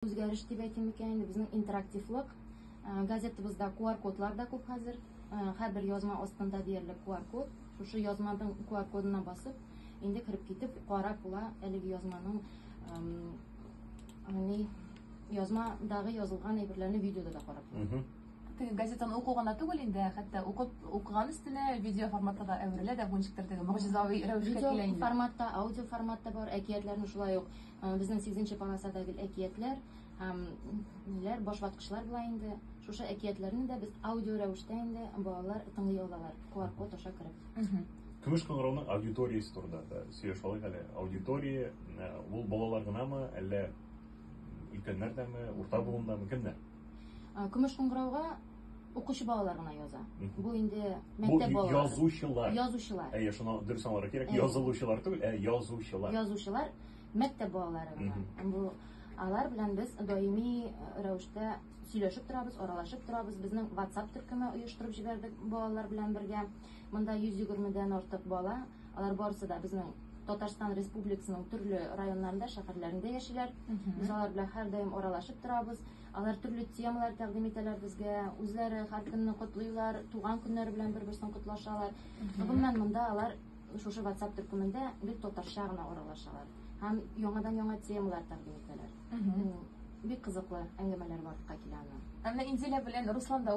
Үзгәреш дип әйтим икән, инде безнең интерактивлык. Э, газетабызда QR-кодлар да күп хәзер. Э, һәрбер язма астында диярлек QR-код. Шушы язманың QR-кодына басып, инде кереп китеп, карап була әлеге язманың ни язмадагы язылган әйберләрне видеода да карап була. Теге газетаны уку гына түгел инде, хәтта укып укыган өстенә видео форматта да әверелә дә, бу ничектер теге могҗизави рәвешкә килә инде. Видео форматта, аудио форматта бар, әкиятләрне шулай ук Э, безнең сигезенче полосада гел әкиятләр һәм ниләр башваткычлар була инде шушы әкиятләрне дә без аудио рәвештә инде балалар тыңлый алалар qr код аша кереп көмеш кыңгырауның аудиториясе турында да сөйләшеп алыйк әле аудитория э, ул балалар гынамы әллә өлкәннәр дәме урта буындамы кемнәр Ә, Көмеш кыңгырауга укучы балалар гына яза. Мгм. Бу инде Бу мәктәп балалары. язучылар. Язучылар. Әйе, шуны дөрес аңларга кирәк. Әйе. Язылучылар түгел, ә язучылар. Язучылар мәктәп балалары гына. Мгм. Бу алар белән без даими э, рәвештә сөйләшеп торабыз, аралашып торабыз. Безнең WhatsApp төркеме оештырып җибәрдек балалар белән бергә. Монда 120 дән артык бала Алар барысы да безнең Татарстан Республикасының төрле районнарында, шәһәрләрендә яшиләр. Без алар белән һәрдаим аралашып торабыз. Алар төрле темалар тәкъдим итәләр безгә. Үзләре һәр көнне котлыйлар, туган көннәре белән бер-берсен котлашалар. Гомумән монда алар шушы WhatsApp төркемендә бик татарча гына аралашалар һәм яңадан-яңа темалар тәкъдим итәләр. Бик кызыклы әңгәмәләр барлыкка килә аны. Әмма Инзилә белән Руслан да